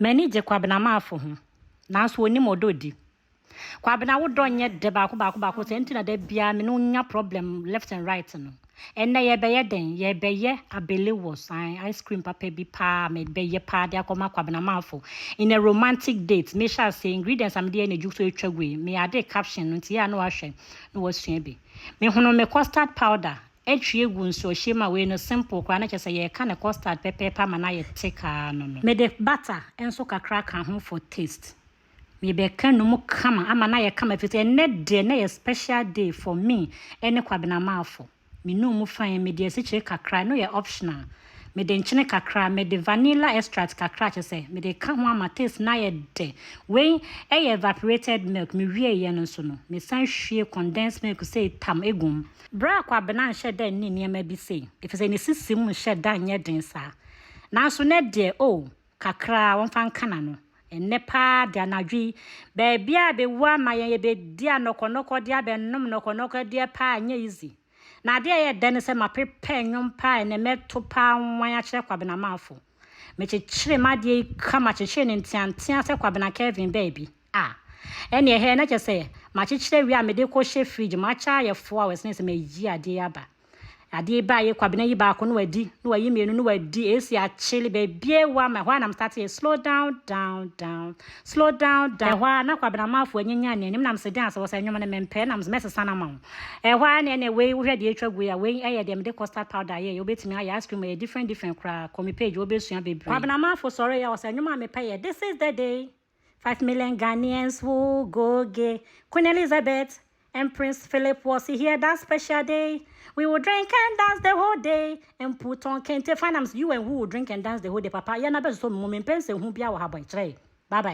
M'ani gye Kwabena Marfo ho, nanso onnim ɔdɔ odi. Kwabena, wo dɔ nyɛ dɛ baako baako baako, saa nti na da biara me ne wo nya problem left and right no. Ɛnnɛ yɛrebɛyɛ dɛn? Yɛrebɛyɛ abelewos, ae, ice cream papa bi paa a mebɛyɛ paa de akɔma Kwabena Marfo in a romantic date. Mehyɛ aseɛ, ingredients a mede yɛɛ no adwu nso atwa gu ɛ. Me added caption no nti yɛ a na wahwɛ na wasua bi. Mehunuu me custard powder Ɛtwi egu nsuohyeɛ mu a wei no simple koraa na kyerɛ sɛ yɛka no custard pɛpɛɛpɛ ama no ayɛ thick ara no no. Mede butter nso kakra ka ho for taste. Mebɛka no mu kama ama no ayɛ kama ɛfiri sɛ ɛnnɛ deɛ na ɛyɛ special day for me ɛne Kwabena Marfo. Menuu mu fine, mede asikyire kakra, ɛno yɛ optional. Mede nkyene kakra, mede vanilla extract kakra kyerɛ sɛ mede ka ho ama taste no ayɛ dɛ. Wei yɛ evaporated milk. Mewieeɛ no nso no, mesan hwie condensed milk sei tam gu mu. Berɛ a Kwabena nhyɛ da nni nneɛma bi sei, ɛfiri sɛ ne sisi mu nhyɛ da nyɛ den saa. Nanso nnɛ deɛ, oh, kakra ara, ɔmfa nka n'ano. Ɛnnɛ pa ara deɛ, anadwo yi, baabiara bɛwu ama yɛn, yɛbɛdi anɔkɔnɔkɔdeɛ abɛnom nnɔkɔnɔkɔdeɛ pa ara, ɛnyɛ easy. Na ade a ɛyɛ dɛ ne sɛ maprepare nnwom paa a ɛnnɛ mɛto paa nwan akyerɛ Kwabena Marfo. Mekyekyere m'adeɛ yi kama kyekyere no nteanteaa sɛ Kwabena Kelvin baa bi a, ɛnneɛ ɛha yi na kyerɛ sɛ makyekyere awie a mede rekɔhyɛ fridge mu akyɛ ayɛ four hours na ɛsɛ sɛ mayi adeɛ yi aba. Adeɛ yi baa yɛ Kwabena yi baako na wadi na wayi mmienu na wadi, AC akyele, baabiara awu ama, ɛhɔ ara na me start yɛ slow down, down, down. Slow down da. Ɛhɔ ara na Kwabena Amarfo anyanyan n'anim nam se deɛn se wɔ sɛ nwom no mempɛ nam se mɛsesa no ama wo. Ɛhɔ ara na ɛneɛ wei wohwɛ deɛ atwa gu yi a wei ɛyɛ deɛ mede custard powder ayɛ yi wobɛtumi ayɛ ice cream ɛyɛ different different koraa kɔ me page hɔ wobɛsua bebree. Kwabena Amarfo sɔree a ɔsɛ nwom a mepɛ yɛ This is the day Five million Ghanaians will go gay Queen Elizabeth and Prince Philip was here that special day We will drink and dance the whole day and put on kente fine nam se you and who will drink and dance the whole day papa yɛ no abɛsosɔ me mu mempɛ nsɛnhunu biara wɔ ha bye kyerɛe bye bye.